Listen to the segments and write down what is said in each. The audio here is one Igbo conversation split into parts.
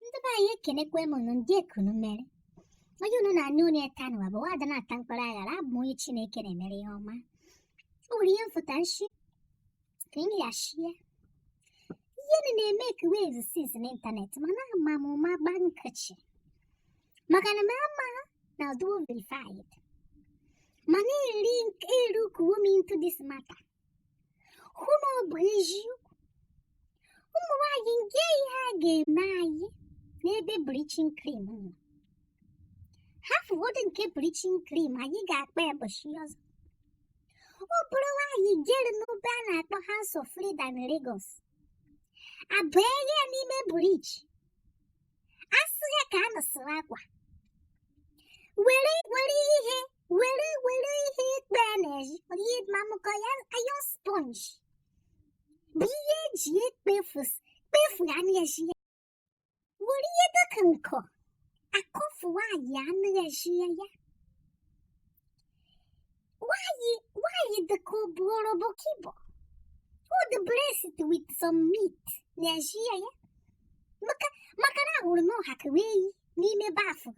ndị be anyị ekenekwa m unu ndee ka unu mere onye unu na-anụ olu ya taa nụwa bụ nwaada na-ata mkpara aghara abụ m onye chineke na-emere ihe ọma o nwere ihe m fụta m shi ka m bịa share ihe na na-emake waves since n'ịntanetị mana ama m ụma gba nkịchị maka na m ama na ọ dụ verified mana elookuwo m into this matter hụ na ọ bụ eziokwu ụmụ nwaanyị kee ihe a ga-eme anyị n'ebe bleaching cream nọ hafụgodị nke bleaching cream anyị ga-akpa ya ụbọchị ọzọ ọ bụrụ nwaanyị jere n'ebe a na-akpọ House of Frida na Lagos a bịe ya n'ime bleach a sị ya ka a nọsịrị akwa were were ihe were were ihe ikpe ya n'eji ihe mamụkọ ya iron sponge bụ ihe e ji ekpefu kpefu ya n'eji ya were ihe dịka nkọ akọfu nwaanyị a n'eji ya ya nwaanyị nwaanyị dịka ọ bụ orobokibo ọ dị blessed with some meat n'eji ya ya maka maka na ahụrụ m ọ ha ka wee yi n'ime bathtub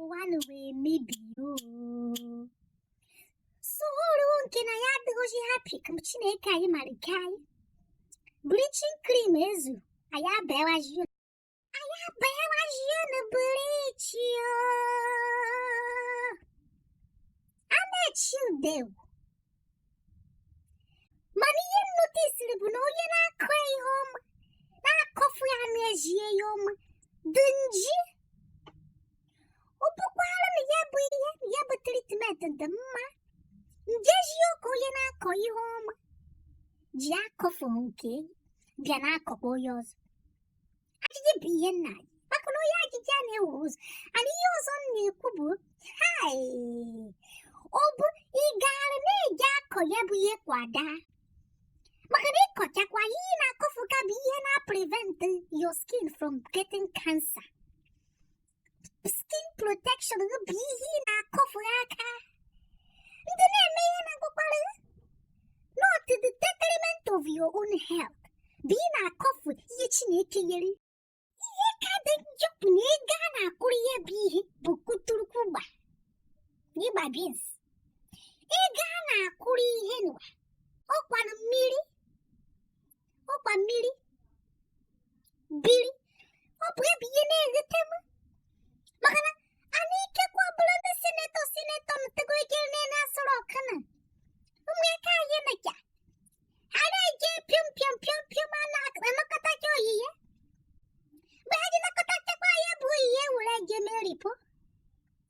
ụwa n'ụwa emebiwo so ruo nke na anyị adịghịzi happy ka chineke anyị mara kee anyị bleaching cream ezu anyị abawazi anyị abawazi na bleach a na-echi ude egwu mana ihe m notisiri bụ na onye na-akọ ihe ọma na-akọfu ya n'eji ya ọma dị nji ọ bụkwara na ya bụ ihe ya bụ treatment dị mma njeji oke onye na-akọ ihe ọma ji akọfu nke bịa na-akọkwa onye ọzọ ajụjụ bụ ihe m na-ajụ maka na onye ajụjụ anaghị efu ụzọ and ihe ọzọ m na-ekwu bụ hai ọ bụ ị gara na-eje akọ ya bụ ihe kwa daa maka na ị kọchakwa ihe ị na-akọfu ka bụ ihe na-prevent your skin from getting cancer skin protection gị bụ ihe ị na-akọfu aka ndị na-eme ihe na-akpakwara not to the detriment of your own health bụ ị na-akọfu ihe Chineke nyere ihe ka dị njọ bụ na ego a na-akwụrụ ihe bụ ihe bụ kuturukugba ịgba beans ego a na-akwụrụ ihe nụwa ọ kwanụ mmiri ọkwa mmiri biri ọ bụ ebe ihe na-eghete m maka na anyị ikekwa bụrụ ndị senator senator mụtago ike nne na-asọrọ ọkana ụmụaka anyị na ya ha na-eje pịọm pịọm pịọm pịọm a na-anakọta gị oyiye mgbe ha ji nakọtachakwa ya bụ oyiye were je mee lipo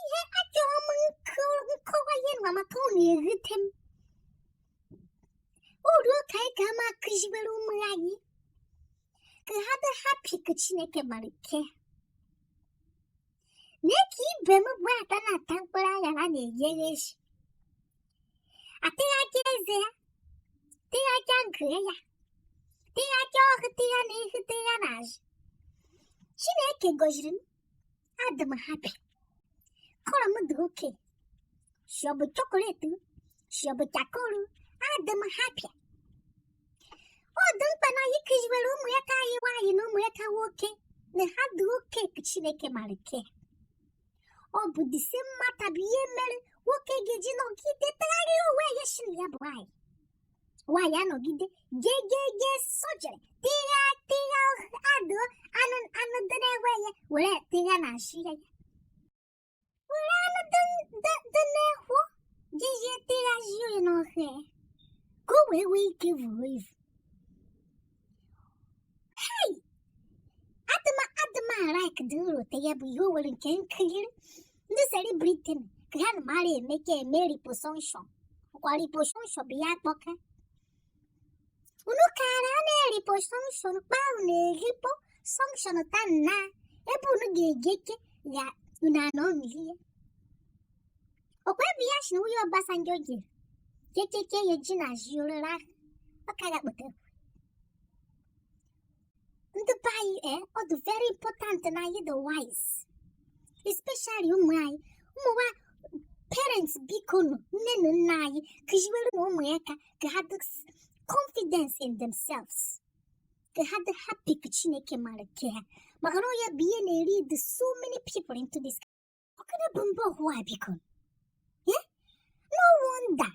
ihe achọrọ m nkọwa ihe nwa maka ọ na-erute m uru ka anyị ga ama akụziwere ụmụ anyị ka ha dị happy ka chineke mara ke mee ka ibe m bụ ada na-ata mkpụrụ anya na na-eyere echi atịghaja eze ya tịghaja nke a tịghaja o tee ya n'ihu tee ya n'azụ chineke gọziri m adị m happy color m dị okay shị ọ bụ chocolate shị ọ bụ charcoal adị m happy ọ dị mkpa na anyị kụziwere ụmụaka anyị nwaanyị na ụmụaka nwoke na ha dị okay ka chineke mara ke ọ bụ this same matter bụ ihe mere nwoke ga-eji nọgide tụgharịa onwe ya shị na ya bụ nwaanyị nwaanyị anọgide jee jee jee surgery tigha tigha adọ anụ anụ dị n'ehụ ya were tigha na nshi ya were anụ dị n'ehọ jezie tigha zie ya n'ọhụ ya ka o wee nwee ike vuru evu adịma adịma ara ka dị nro te ya bụ ihe o nwere nke m kiri ndị celebrity ka ha na mara eme ka eme liposuction kwa liposuction bụ ya kpọka unu kara a na-eliposuction kpaa unu eliposuction ta nna ebe unu ga-egeke ya unu anọ nri ya ọkwa ebe a sị na nwunye Obasanjo ji kekeke ya ji na ji orere ahụ ọ ka ya kpọtara ndị be anyị ee ọ dị very important na anyị dị wise especially ụmụ anyị ụmụ nwa parents bikonụ nne na nna anyị kụziwerenụ ụmụaka ka ha dị s- confidence in themselves ka ha dị happy ka chineke mara ke ha maka na ọ ya bụ ihe na-elead so many people into this Ọkada bụ mba ọhụụ a biko. Eh? No wonder.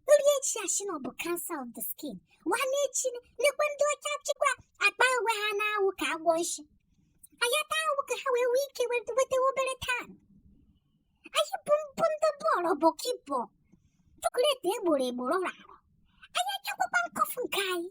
Nri echi a shị na ọ bụ cancer of the skin. Nwanne echi nekwa ndị ọcha chịkwa agba onwe ha n'anwụ ka agwọ nshi. A nyata anwụ ka ha wee nwee ike nweta obere tan. Anyị bụ mbụ ndị bọọlụ bụ kibọ. Chocolate egboro egboro rara. Anyị achakwakwa nkọfu nke anyị.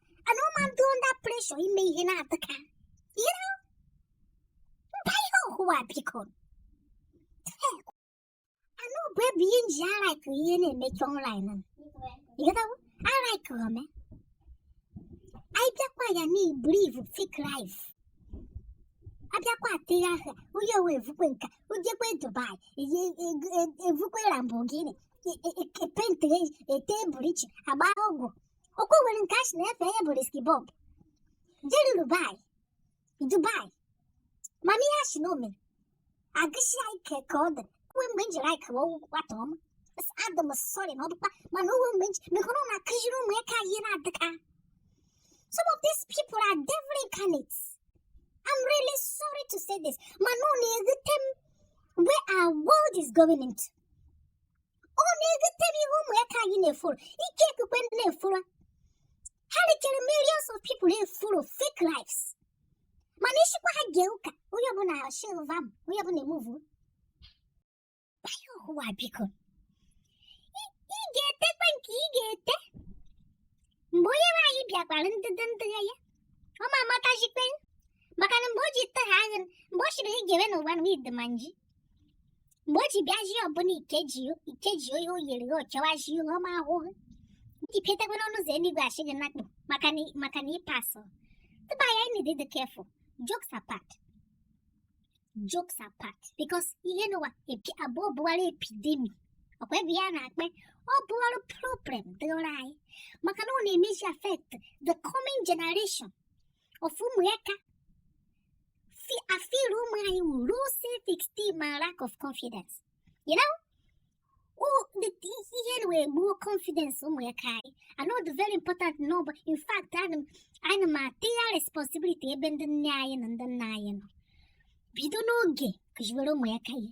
ana m adị under pressure ime ihe na-adị ka you know mba ihe ọhụwa biko anụ bụ ebe ihe nji alaik ihe na-emezi online you know alaik ụmụ anyị bịakwa ya na ibiliv fake life abịakwa atịghị aha onye owe evukwe nka ojekwe dubai ye- e- e- evukwe lamborghini e- e- e- epentị ete bleach agba ọgwụ ọkwa nwere nke a sị na afa ya bụ riski bọb jere dubai dubai mana ihe a si na omere agụsi ya ike ka ọ dị uwe mgbe m jiri ike wee nwata ọma Sị, adị m sorry na ọ dịkwa mana uwe mgbe m ji mekọrọ na akụziri ụmụaka ihe na-adịka some of these people are devil incarnate I'm really sorry to say this mana ọ na-ewute m where our world is going into ọ na-ewute m ihe ụmụaka anyị na-efuru ike ekpukpe na-efuru ha richara millions of people na-efuru fake lives mana ị sịkwa ha gee ụka onye ọbụla shilva m onye ọbụla emuvu mba ihe ọhụwa biko ị ga-etekwa nke ị ga-ete mgbe onye nwe anyị bịa kpọrọ ndị ndị ya ya ọ ma amatazikwe maka na mgbe o ji ite ha agha mgbe ọ chịrị ị ga-ewe n'ụwa na ịdị ma nji mgbe o ji bịazi ọbụla ikeji ikeji onye o yiri o chewazi ihe ọma ahụhụ gị pụtakwa n'ọnụ ụzọ eluigwe ashị gị nakpụ maka na maka na ịpasụ ndị be anyị anyị need to be careful jokes apart jokes apart because ihe nụwa epi ọ bụwara epidemic ọkwa ebe ya na-akpọ ya ọ bụwara problem dịrị anyị maka na ọ na-emezi affect the coming generation of ụmụaka afil ụmụ anyị with low self esteem and lack of confidence you know ihe na wee gbuo confidence ụmụaka anyị na ọ dị very important na ọ bụ in fact ana m ata ya responsibility ebe ndị nne anyị na ndị nna anyị nọ bido n'oge kụziwere ụmụaka ihe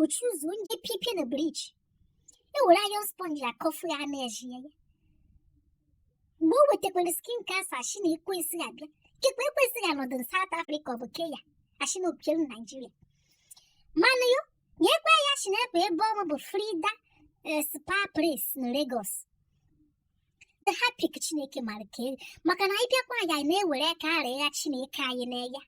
otu ụzọ onye pipie na bleach ewere iron sponge akọfu ya na-eji ya mgbe o wetakwara skin cancer ashi na ekwensu abịa kekwa ekwensu ya nọdụ na South Africa ọ bụ Kenya ashi na opielu Naijiria mana yo nyekwa ya shi na ebe ebe ọma bụ Frida eh, Spa Place na Lagos nde hapụ ka Chineke mara ka maka na anyị bịakwa ya na-ewere karịa Chineke anyị na ya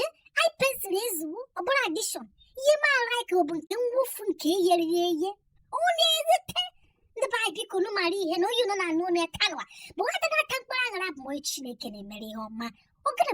eh? eye pencil ezigbo ọbụla addition ihe m ala ka ọ bụ nke mwụfu nke e nyere ya eye ọ na-ewute m ndị be anyị biko nụ mara ihe na onye nọ na anụ ọnụ ya tanụwa bụ nwata na-ata mkpụrụ aṅara bụ onye chineke na-emere ihe ọma ọ gịnị